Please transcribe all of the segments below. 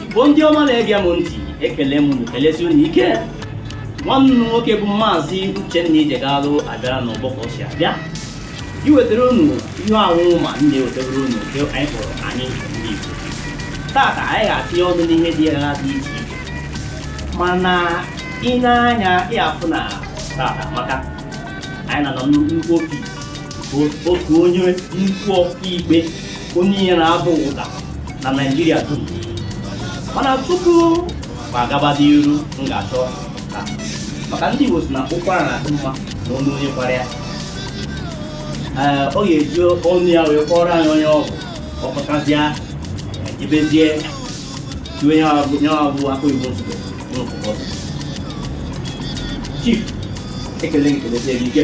igbo ndị ọma na-ege m ntị ekele m unu kelesi unu ike nwanne unu nwoke bụ maazị uchenna ijegalụ abịara n'ọgbọ ka o si abịa iwetara unu ihe ahụ mụwa na-ewetara unu nke anyị kpọrọ anyị ndị igbo tata anyị ga-etinye ọnụ n'ihe dị ya dị iche iche mana i nee anya ị ya-afụ na tata maka anyị nwa nọ nnukwu ofis otu onye nnukwu ọkaikpe onye ihe na-ada ụda na naijiria dum mana tupu m agaba n'iru m ga-achọ ka maka ndị igbo si na ụkwara na-adị mma n'ọnụ onye kwara ya ee ọ ga-eji ọnụ ya wee kọrọ anyị onye ọ bụ ọ kọchazịa e jebezie tiwe ya abụ ya abụ akụ igbo nsogbu n'ụfọdụ chief ekele m gị kelezie gị ike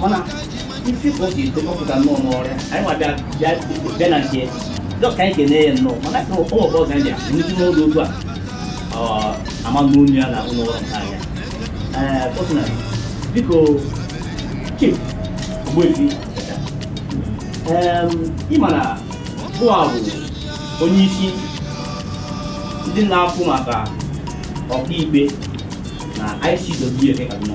mana isi ka o si etepụta nnọọ n'ọrụ ya anyị nwa bịa bịa bịa na nke dọkịta anyị kene ya nnọọ mana sị ụmụ ọgbọ ga ndị a nnukwu n'oge otu a ọ ama n'onu ya na ụlọ ọrụ nke anya ee kọsịna biko chief ogbuefi ị ma na bụwa bụ onye isi ndị na-afụ maka ọkaikpe na ICW nke Kaduna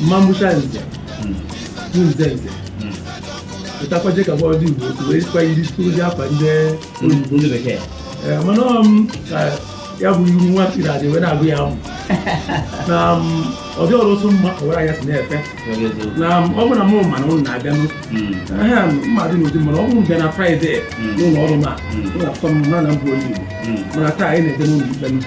mmambucha nze bụ nze nze pụtakwaje ka bọọdụ igbo otu wee kwa iri ozi akwa ndị oyibo ndị bekee Ee, mana ọ m ka ya bụ ihu nwa mkpiri adị wee na-agụ ya mụ na m, ọ dị ọrụ otu mma ọwara ya si na-efe Oge eziokwu. na m, ọ bụ na mụ ma na ụnụ na-abịa n'ụlọ Mm. aha mmadụ n'ụdị mana ọ bụrụ bịa na fraịde n'ụlọ ọrụ ma ụlọ akwụkwọ m na na mbụ onye igbo Mm. mana taa anyị na-ede n'ụlọ ikpe n'ụlọ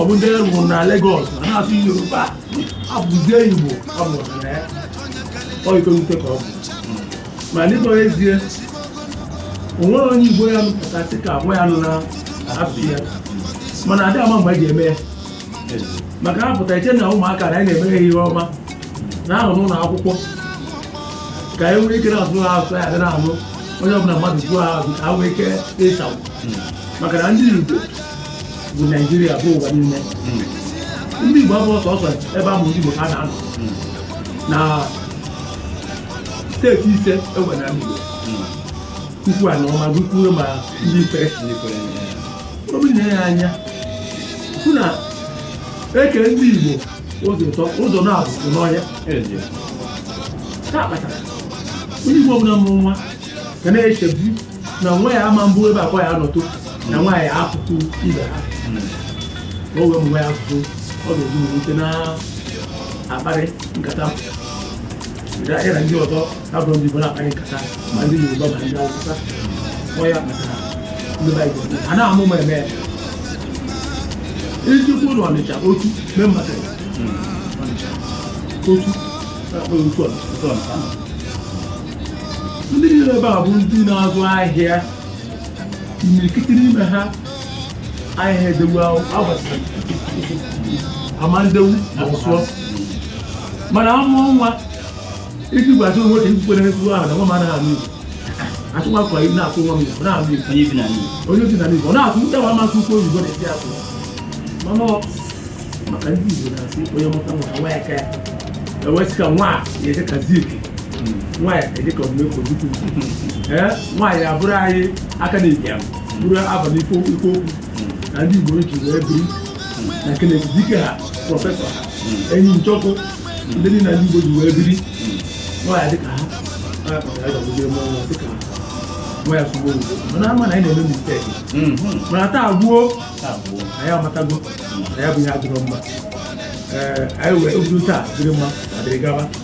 ọ bụ ndị a mụrụ na Lagos na na-asụ Yoruba abụzie Igbo a mụrụ na ya ọ ife nwute ka ọ bụ ma n'ịkpọ ezie o nwere onye Igbo ya nụpụta sị ka agwa ya nụ na ahapụ ya mana adị ama mgbe e ji eme ya maka ha pụta iche na ụmụaka na anyị na-eme ha ihe ọma na ahụ n'ụlọ akwụkwọ ka ha nwee ike na-asụ ha asụ ya na ahụ onye ọbụla mmadụ jụọ ha ajụjụ ka ha nwee ike ịsa maka na ndị Igbo bụ naijiria bụ ụwa niile ndị igbo abụrọ sọsọ ebe a mụrụ ndị igbo ka ha na-anọ na steeti ise e nwe n'igbo ukwu anọ ma gụkwuo ma ndị ikwere ọ bụ i nee anya fụ na e kee ndị igbo ụzọ atọ ụzọ naabọ nọ n'ọhịa ya kpatara onye igbo ọbụla mụrụ nwa ga na-echebu na nwa ya ama mbụ ebe akwa ya nọtụ na nwa ya akụkụ ibe ha na o wee mgbe ya asụsụ ọ ga-eji wee na-akparị nkata ya na ndị ọzọ ha bụrụ ndị Igbo na-akparị nkata ma ndị Yoruba ma ndị Awụsa ọ ya kpatara ndị Baịbụl a na-amụ ma eme iji kwuo na Ọnịcha otu mee mmadụ Ọnịcha otu na-akpọ ya otu Ọnịcha ndị niile ebe a bụ ndị na-azụ ahịa imirikiti n'ime ha ahịa edewu agbasa amandewu ma ọ sụọ mana amụọ nwa iji gwa atụ nwoke ndị kwere n'ekwu ahụ na nwa m anaghị anụ igbo atụ nwa kọrọ na-asụ nwa m igbo na-anụ igbo onye bi na n'iyi onye bi na igbo na-asụ ndị nwa masị ukwu oyibo na-esi asụ mana ọ maka ndị igbo na-asị onye mụta nwa nwa ya ka ya e wee sị ka nwa ya dị ka Zik nwa ya dịka Odumegwu Ojukwu ee nwa ya abụrụ anyị Akanu Ibiam bụrụ Alvan Ikoku na ndị Igbo ji wee biri na Kenneth Dike ha prọfesọ ha Eni Njoku ndị niile ndị Igbo ji wee biri nwa ya dịka ha nwa ya sụọ Igbo mana ama na anyị na-eme mistake mana taa bụ gboo anyị amatago na ya bụ ihe adịrọ mma ee anyị wee bido taa dịrị mma ma dịrị gaba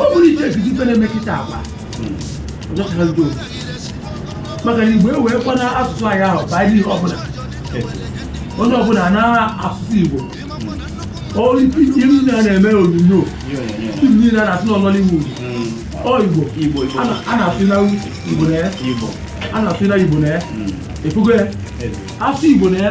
ọ bụrụ ije ebizi ife na-eme kịta agwa ọjọchara ndị otu maka na igbo ewee kwana asụsụ anyị abaa n'ihe ọbụla onye ọbụla na asụsụ igbo iru na na-eme onyonyo film niile a na-asị Nollywood ọ igbo a na-asụ na igbo na ya a na-asụ na igbo na ya efugo ya asụ igbo na ya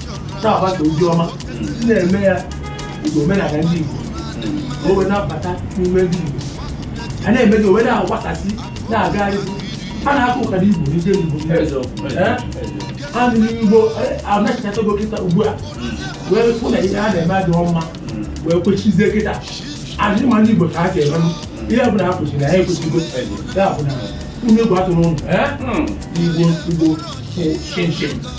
na-agbasa ozi ọma ndị na-eme ya igbo omenala ndị igbo ka o wee na-abata n'ime ndị igbo a na-emezi o wee na-agbasasị na-agagharị a na-aka ụka n'igbo ndị igbo a ndị igbo anachighatago kịta ugbu a wee fụ na ihe a na-eme adịghị mma wee kwechizie kịta adịghị ma ndị igbo ka ha si eme ihe ọbụla ha kwụsịrị ha akwụsịgo ya bụ na ụmụ egwu atụrụ ụlọ igbo igbo chinchin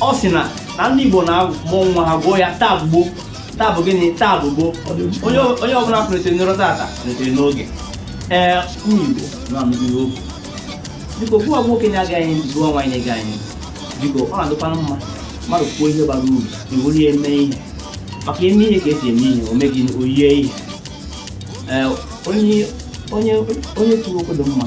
ọ sị na na ndị Igbo na-amụ nwa ha gụọ ya taa gboo taa bụ gịnị taa bụ gboo onye onye ọbụla kulitere n'ụra tata kulitere n'oge ee ụmụ Igbo na-anụgide okwu biko okwu ọ bụ nwoke na-ege ntị ọ bụ nwaanyị na-ege ntị biko ọ na-adịkwana mma mmadụ kwuo ihe bara uru i were ya mee ihe maka e mee ihe ka e si eme ihe o mee gịnị o yie ihe ee onye onye onye kwuru okwu dị mma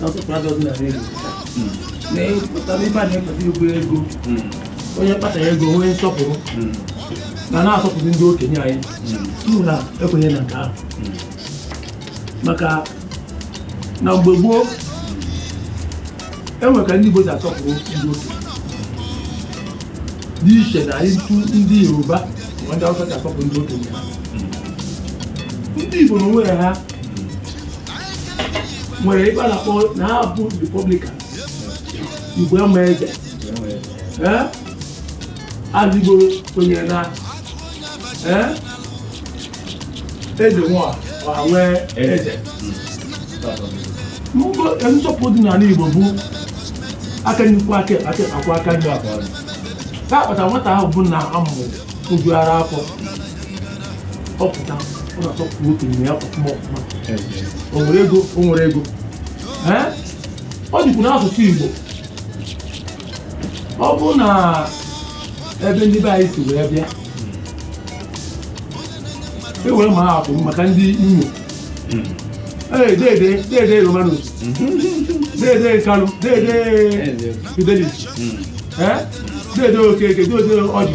nsọpụrụ adịrọzi na redio na-epụta ife a na-epụta igwe ego onye kpata ego onye nsọpụrụ na na-asọpụrụ ndị okenye anyị uru na ekwenye na nke ahụ maka na mgbe gboo e nwere ka ndị Igbo si asọpụrụ ndị okenye dị iche na etu ndị Yoruba ma ndị Hausa si asọpụrụ ndị okenye ndị Igbo na onwe ha nwere ebe a na-akpọ na ha bụ republican Igbo ama eze ee ala Igbo kwenyere na ee eze nwe ọha nwe eze Mbọ- nsọpụrụ dị n'ala Igbo bụ aka nnukwu aka aka akwa aka nri abụọ ka akpata nwata ahụ bụ na a mụrụ ojuara afọ ọ pụta ọ na-asọpụrụ okenye ya ọfụma ọfụma o nwere ego o nwere ego ọ dịkwu n'asụsụ Igbo ọ bụ na ebe ndị be anyị si wee bịa e were maa atụ maka ndị Imo deede deede Romanus deede Kalu deede Fidelis deede Okeke deede Ọjị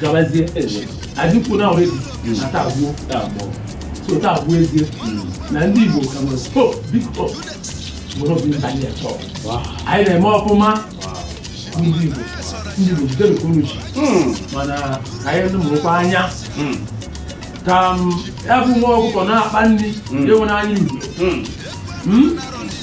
gabazie adịkwu na ọrịa na taa bụ gboo so taa bụ gboo ezie na ndị Igbo ka nwere hope big hope mgbe ọ bụ ndị anyị atọ anyị na-eme ọfụma ndị Igbo ndị Igbo jide nke unu ji mana ka anyị mụrụkwa anya ka ya bụ nwa ọkụkọ na-akpa nri enwere anya igwe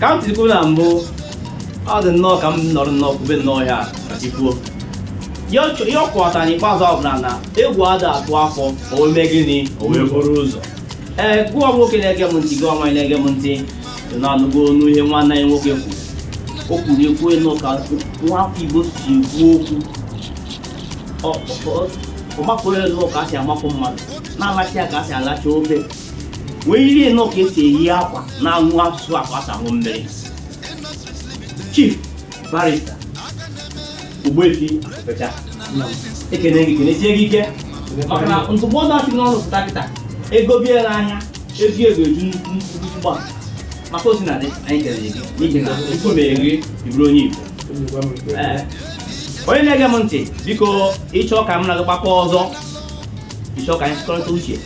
ka m tiri na mbụ ọ dị nnọọ ka m nọrọ nnọọ kwube nnọọ ya ikwuo ihe ọ kọwatara n'ikpeazụ ọ bụ na egwu ada atụ afọ o mee gịnị o wee buru ụzọ ee gị bụ nwoke na-ege m ntị gị bụ nwaanyị na-ege m ntị na-anụgo onu ihe nwanne anyị nwoke kwuru o kwuru okwu ilu ka nwafọ Igbo si ekwu okwu ọ makụrụ ilu ka a si amakụ mmadụ na-alacha ya ka a si alacha ofe wee yiri nnọọ ka e si eyi akwa na-aṅụ asụsụ ka a si aṅụ mmiri chief barista Ogbuefi Afecha ekene gị kenesie gị ike maka na ndụmọdụ a si n'ọnụ pụta kịta e gobe ya n'ahịa ezi ego eju nnukwu nnukwu gba maka osi na dị anyị kelere gị n'ihi na Chukwu mere gị ị bụrụ onye Igbo Ee. onye na-ege m ntị biko ị chọọ ka m na gị gbakọ ọzọ ịchọ ka anyị chịkọrịta uche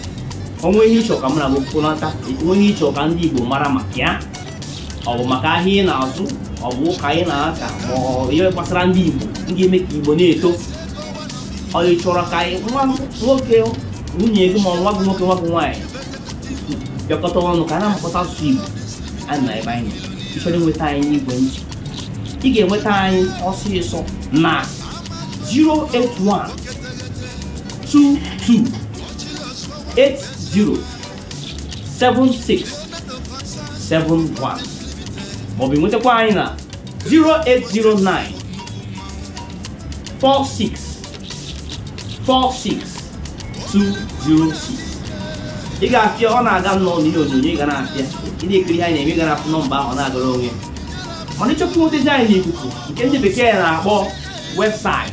o nwee ihe ịchọ ka mụ na gị kwurịta o nwee ihe ịchọ ka ndị Igbo mara maka ya ọ bụ maka ahịa ị na-azụ ọ bụ ụka ị na-aka ma ihe gbasara ndị Igbo ndị eme ka Igbo na-eto ọ chọrọ ka anyị nwa nwoke nwunye gị ma nwa gị nwoke nwa gị nwaanyị bịakọta ọnụ ka a na-amụkọta asụsụ Igbo a na ebe anyị ịchọrọ inweta anyị n'ekwentị ị ga-enweta anyị ọsịsọ na 081 22807671 maọbụ nwetakwa anyị na 0809 46 46 206 ị ga-afụ ya ọ na-aga nnọọ n'ihe onyonyo ị ga na-afụ ya ị na-ekiri ihe anyị na-eme ị ga na-afụ nọmba ahụ na-agara onwe ya mana ịchọpụtazi anyị n'ikuku nke ndị bekee na-akpọ website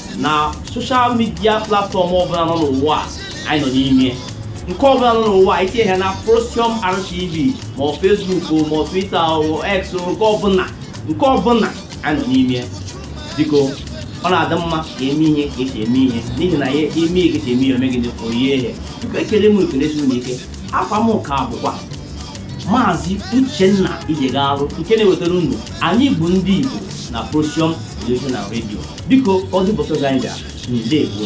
na social media platform ọbụla nọ n'ụwa anyị nọ n'ime nke ọbụla nọ n'ụwa itinye ha na Prosium RTV ma ọ Facebook ma ọ Twitter ma X nke ọbụla nke ọbụla anyị nọ n'ime biko ọ na-adị mma ka eme ihe ka esi eme ihe n'ihi na emee ihe ka esi eme ihe omegide o yie ihe biko ekele m ekelesi unu ike afa m ka bụkwa maazị uchenna ijegarụ nke na-ewetara unu anyị bụ ndị igbo na Prosium Television na redio biko ọdụ bọsọ anyị ga ndewo